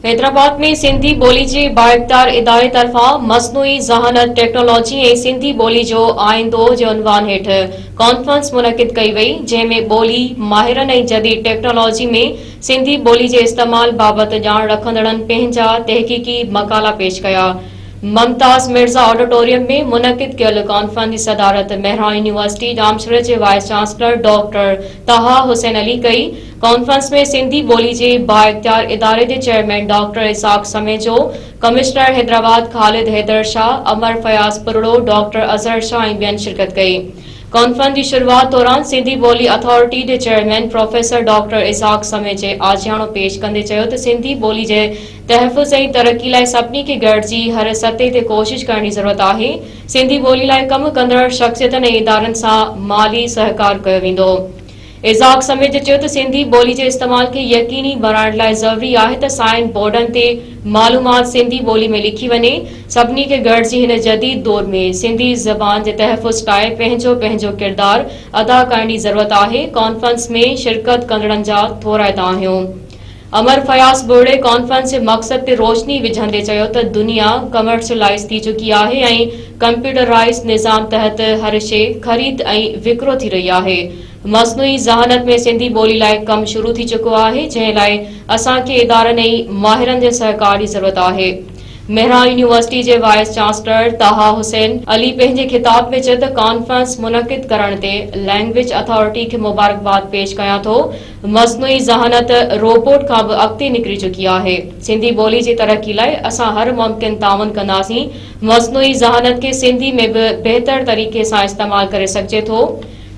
حيدرآباد ۾ سنڌي ٻولي جي بااقدار اداري طرفان مصنوعي ذهانت ٽيڪنالاجي ۽ سنڌي ٻولي جو آئيندو جي عنوان هيٺ ڪانفرنس منعقد ڪئي وئي جنهن ۾ ٻولي ماهرن ۽ جديد ٽيڪنالاجي ۾ سنڌي ٻولي جي استعمال بابت ڄاڻ رکندڙن پنهنجا تحقيقي مقالا پيش ڪيا ممتاز مرزا آڊيٽوريم ۾ منعقد ڪيل ڪانفرنس جي صدارت مهراڻ يونيورسٽي ڄامشوري جي vice chancellor doctor Taha Hussain Ali ڪئي ڪانفرنس ۾ سنڌي ٻولي جي بااختيار اداري جي chairman doctor Ishaq Samejo, commissioner Hyderabad Khalid Haider Shah, Amar Fayaz Parro, doctor Azhar Shah ۽ ٻين شرڪت ڪئي. ڪانفرنس جي شروعات دوران سنڌي ٻولي اٿارٽي جي چيئرمين پروفيسر ڊاڪٽر اسحاق سميجي آجياڻو پيش ڪندي چيو ته سنڌي ٻولي جي تحفظ ۽ ترقي لاء سڀني کي گڏجي هر سطح تي ڪوشش ڪرڻ جي ضرورت آهي، سنڌي ٻولي لاء ڪم ڪندڙ شخصيتن ۽ ادارن سان مالي سهڪار ڪيو ويندو. ايذاق سميجي چيو ته سنڌي ٻولي جي استعمال کي يقيني بڻائڻ لاء ضروري آهي ته سائن بورڊن تي معلومات سنڌي ٻولي ۾ لکي وڃي، سڀني کي گڏجي هن جديد دور ۾ سنڌي زبان جي تحفظ ڪاء پنهنجو پنهنجو ڪردار ادا ڪرڻ جي ضرورت آهي، ڪانفرنس ۾ شرڪت ڪندڙن جا ٿورائتا آهيون. عمر فياض ٻوڙي ڪانفرنس جي مقصد تي روشني وجهندي چيو ته دنيا ڪمرشلائيز ٿي چڪي آهي ۽ ڪمپيوٽرائيز نظام تحت هر شيء خريد ۽ وڪرو ٿي رهي آهي، مصنوعي ذهانت ۾ سنڌي ٻولي لاء ڪم شروع ٿي چڪو آهي جنهن لاء اسان کي ادارن ۽ ماهرن جي سهڪار جي ضرورت آهي. مهراڻ يونيورسٽي جي وائيس چانسلر طه حسين علي پنهنجي خطاب ۾ چيو ته ڪانفرنس منعقد ڪرڻ تي لئنگويج اٿارٽي کي مبارڪباد پيش ڪيان ٿو، مصنوعي ذهانت، روبوٽ، کان به اڳتي نڪري چڪي آهي. سنڌي ٻولي جي ترقي لاء اسان هر ممڪن تعاون ڪنداسين. مصنوعي ذهانت کي سنڌي ۾ به بهتر طريقي سان استعمال ڪري سگهجي ٿو.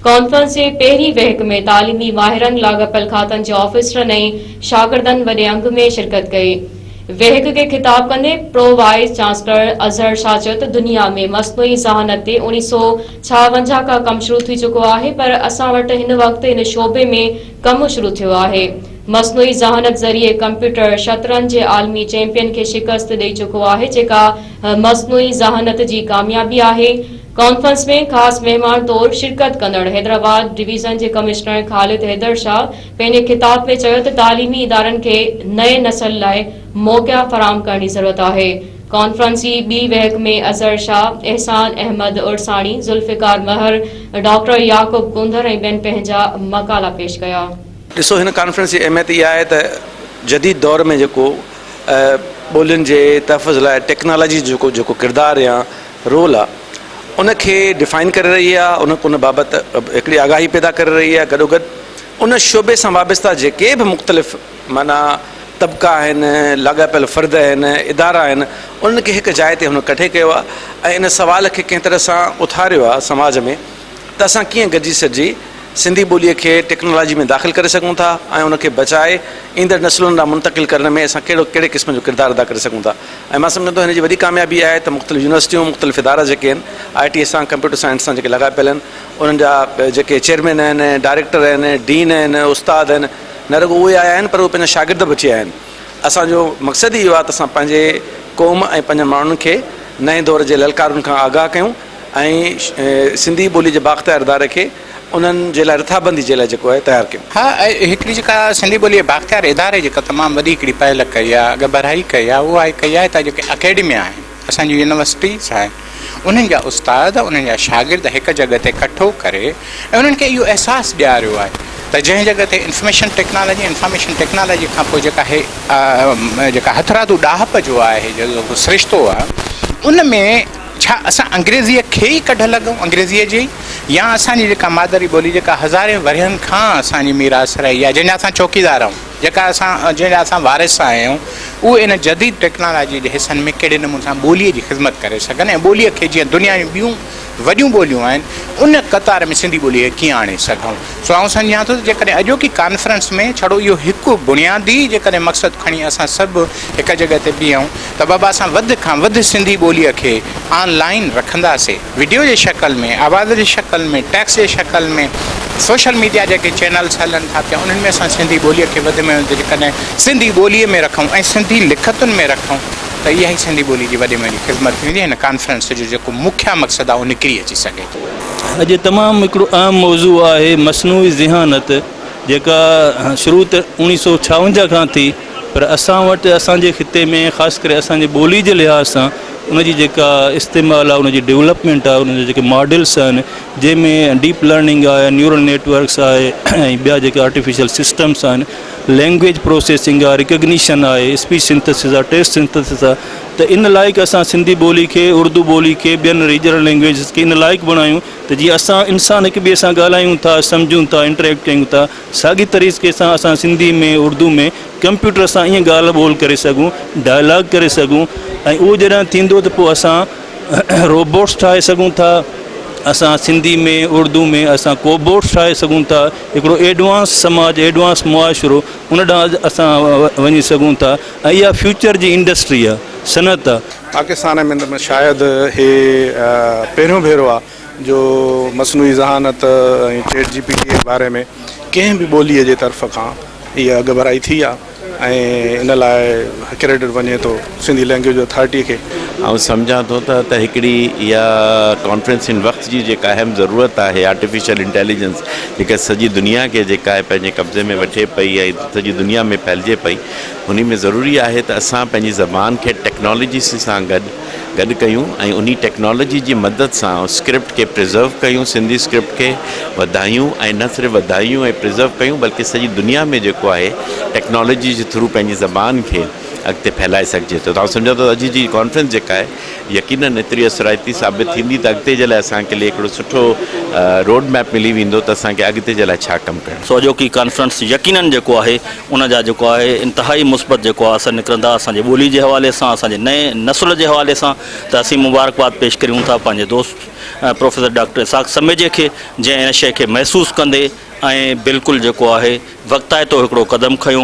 ڪانفرنس جي پهرين وهڪ ۾ تعليمي ماهرن، لاڳاپيل کاتن جي آفيسرن ۽ شاگردن وڏي انگ ۾ شرڪت ڪئي. ويهڪ کي خطاب ڪندي pro vice chancellor Azhar Shah چيو ته دنيا ۾ مصنوعي ذهانت تي اوڻي سو ڇاونجاهه کان ڪم شروع ٿي چڪو آهي پر اسان وٽ هن وقت ان شعبي ۾ ڪم شروع ٿيو آهي مصنوعي ذهانت ذريعي ڪمپيوٽر شطرنج جي عالمي چيمپين کي شڪست ڏئي چڪو آهي جيڪا مصنوعي ذهانت جي ڪاميابي آهي ڪانفرنس ۾ خاص مهمان طور شرڪت ڪندڙ حيدرآباد ڊويزن جي ڪمشنر خالد حيدر شاهه پنهنجي خطاب ۾ چيو ته تعليمي ادارن کي نئين نسل لاء موقعا فراهم ڪرڻ جي ضرورت آهي. ڪانفرنس جي ٻي ويهڪ ۾ اظهر شاهه، احسان احمد عرساڻي، ذوالفقار مهر، ڊاڪٽر يعقوب ڪونڌر ۽ ٻين پنهنجا مقالا پيش ڪيا. ڏسو هن ڪانفرنس جي اهميت اها آهي ته جديد دور ۾ جيڪو ٻولين جي تحفظ لاء ٽيڪنالاجي جو جيڪو ڪردار يا رول آ ان کي ڊفائن ڪري رهي آ ان ان بابت هڪڙي آگاهي پيدا ڪري رهي آ گڏو گڏ ان شعبي سان وابسته جيڪي به مختلف معنيٰ طبقا آهن لاڳاپيل فرد آهن ادارا آهن انهن کي هڪ جاء تي هن ڪٺي ڪيو آ ۽ ان سوال کي ڪنهن طرح سان اٿاريو آ سماج ۾ ته اسان ڪيئن گڏجي سڏجي سنڌي ٻولي کي ٽيڪنالاجي ۾ داخل ڪري سگهون ٿا ۽ ان کي بچائي ايندڙ نسلن ڏانهن منتقل ڪرڻ ۾ اسان ڪهڙو ڪهڙي قسم جو ڪردار ادا ڪري سگهون ٿا ۽ مان سمجهان ٿو هن جي وڏي ڪاميابي آهي ته مختلف يونيورسٽيون مختلف ادارا جيڪي آهن آء ٽي سان ڪمپيوٽر سائنس سان جيڪي لڳا پيل آهن انهن جا جيڪي چيئرمين آهن ڊائريڪٽر آهن ڊين آهن استاد آهن نه رڳو اهي آيا آهن پر اهي پنهنجا شاگرد به اچي آيا آهن اسان جو مقصد ئي اهو آهي ته اسان پنهنجي قوم ۽ پنهنجن ماڻهن کي نئين دور جي للڪارن کان آگاهه ڪيون ۽ سنڌي ٻولي جي بااختيار اداري کي انهن جي لاء رٿابندي جي لاء جيڪو آهي تيار ڪيم. ها اهي هڪڙي جيڪا سنڌي ٻوليء بااختيار اداري جيڪا تمام وڏي هڪڙي پهل ڪئي آهي اڳڀرائي ڪئي آهي اها آهي ڪئي آهي هتان جيڪي اڪيڊميا آهن اسان جون يونيورسٽيز آهن انهن جا استاد انهن جا شاگرد هڪ جڳهه تي ڪٺو ڪري ۽ انهن کي اهو احساس ڏياريو آهي ته جنهن جڳهه تي انفميشن ٽيڪنالاجي انفارميشن ٽيڪنالاجي کان پوء جيڪا هي جيڪا هٿرادو ڏاهپ جو آهي جيڪو سرشتو آهي ان ۾ ڇا اسان انگريزيء کي ئي ڪڍ لڳون، انگريزيء جي ئي يا اسان جي جيڪا مادري ٻولي جيڪا هزارين ورهين کان اسان جي ميراث رهي آهي، جنهن جا اسان چوڪيدار آهيون، جيڪا اسان جنهن جا اسان وارث آهيون، اهي ان جديد ٽيڪنالاجيء جي حصن ۾ ڪهڙي نموني سان ٻوليء جي خذمت ڪري سگهن ۽ ٻوليء کي جيئن دنيا جون ٻيون وڏيون ٻوليون آهن، ان قطار ۾ سنڌي ٻوليء کي ڪيئن آڻي سگهون. سو آئون سمجهان ٿو ته جيڪڏهن اڄوڪي ڪانفرنس ۾ ڇڙو اهو هڪ بنيادي جيڪڏهن مقصد کڻي اسان سڀ هڪ جڳهه تي بيهون ته بابا اسان وڌ کان وڌ سنڌي ٻوليء کي آن لائين رکنداسي وڊيو جي شڪل ۾ آواز جي شڪل ۾ ٽيڪس جي شڪل ۾ سوشل ميڊيا جيڪي چينلس هلن ٿا پيا انهن ۾ اسان سنڌي ٻوليء کي وڌ ۾ وڌ جيڪڏهن سنڌي ٻوليء ۾ رکون ۽ سنڌي لکتن ۾ رکون ته اها ئي سنڌي ٻولي جي وڏي ۾ وڏي خدمت ٿيندي هن ڪانفرنس جو جيڪو مکيه مقصد آهي اهو نڪري اچي سگهي ٿو. اڄ تمام هڪڙو اهم موضوع آهي مصنوعي ذهانت جيڪا شروع ته اوڻيهه سو ڇاونجاهه کان ٿي پر اسان وٽ اسان جي خطي ۾ خاص ڪري اسان جي ٻولي جي لحاظ سان ان جي جيڪا استعمال آهي ان جي ڊولپمينٽ آهي ان جا جيڪي ماڊلس آهن جنهن ۾ ڊيپ لرننگ آهي نيورل نيٽورڪس آهي ۽ ٻيا جيڪي آرٽيفيشل سسٽمس آهن لينگويج پروسيسنگ آهي ريڪگنيشن آهي اسپيچ سنتسز آهي ٽيسٽ سنتسز آهي ته ان لائق اسان سنڌي ٻولي کي، اردو ٻولي کي، ٻين ريجنل لينگويجز کي ان لائق بڻايون ته جيئن اسان انسان هڪ ٻئي سان ڳالهايون ٿا، سمجهون ٿا، انٽريڪٽ ڪيون ٿا، ساڳي طريقي سان اسان سنڌي ۾ اردو ۾ ڪمپيوٽر سان ائين ڳالهه ٻولهه ڪري سگهون، ڊائلاگ ڪري سگهون ۽ اهو جڏهن ٿيندو ته پوء اسان روبوٽس ٺاهي سگهون ٿا، اسان سنڌي ۾ اردو ۾ اسان ڪوبوٽس ٺاهي سگهون ٿا، هڪڙو ايڊوانس سماج، ايڊوانس معاشرو ان ڏانهن اسان وڃي سگهون ٿا، اها فيوچر جي انڊسٽريء، صنعت. پاڪستان ۾ ته شايد هي پهريون ڀيرو آهي جو مصنوعي ذهانت ۽ چيٽ جي پي ٽي جي باري ۾ ڪنهن به ٻوليء جي طرف کان اها اڳڀرائي ٿي آهي ۽ ان لاء ڪريڊٽ وڃي ٿو سنڌي لئنگئيج اٿارٽيء کي. آئون سمجهان ٿو ته ته هڪڙي اها ڪانفرنس هن وقت جي جيڪا اهم ضرورت آهي آرٽيفيشل انٽيليجنس جيڪا سڄي دنيا کي جيڪا آهي پنهنجي قبضي ۾ وٺي پئي ۽ سڄي دنيا ۾ ڦهلجي پئي انهي ۾ ضروري آهي ته اسان پنهنجي زبان کي ٽيڪنالاجي سان گڏ گڏ ڪيون ۽ انهي ٽيڪنالاجي جي مدد سان اسڪرپٽ کي پريزرو ڪيون سنڌي اسڪرپٽ کي وڌايون ۽ نه صرف وڌايون ۽ پريزرو ڪيون بلڪه سڄي دنيا ۾ جيڪو آهي ٽيڪنالاجي جي ٿرو پنهنجي زبان کي اڳتي ڦهلائي سگهجي ٿو توهان سمجهو ته اڄ جي ڪانفرنس جيڪا آهي يقينن ايتري اثرائتي ثابت ٿيندي ته اڳتي جي لاء اسان کي لي هڪڙو سٺو روڊ ميپ ملي ويندو ته اسان کي اڳتي جي لاء ڇا ڪم ڪرڻ سوجهو ڪي ڪانفرنس يقينن جيڪو آهي ان جا جيڪو آهي انتهائي مثبت جيڪو آهي اثر نڪرندا اسان جي ٻولي جي حوالي سان اسان جي نئين نسل جي حوالي سان ته اسين مبارڪباد پيش ڪريون ٿا پنهنجي دوست پروفيسر ڊاڪٽر اسحاق سميجي کي جنهن ان شيء کي محسوس ڪندي ۽ بلڪل جيڪو آهي وقتائتو هڪڙو قدم کنيو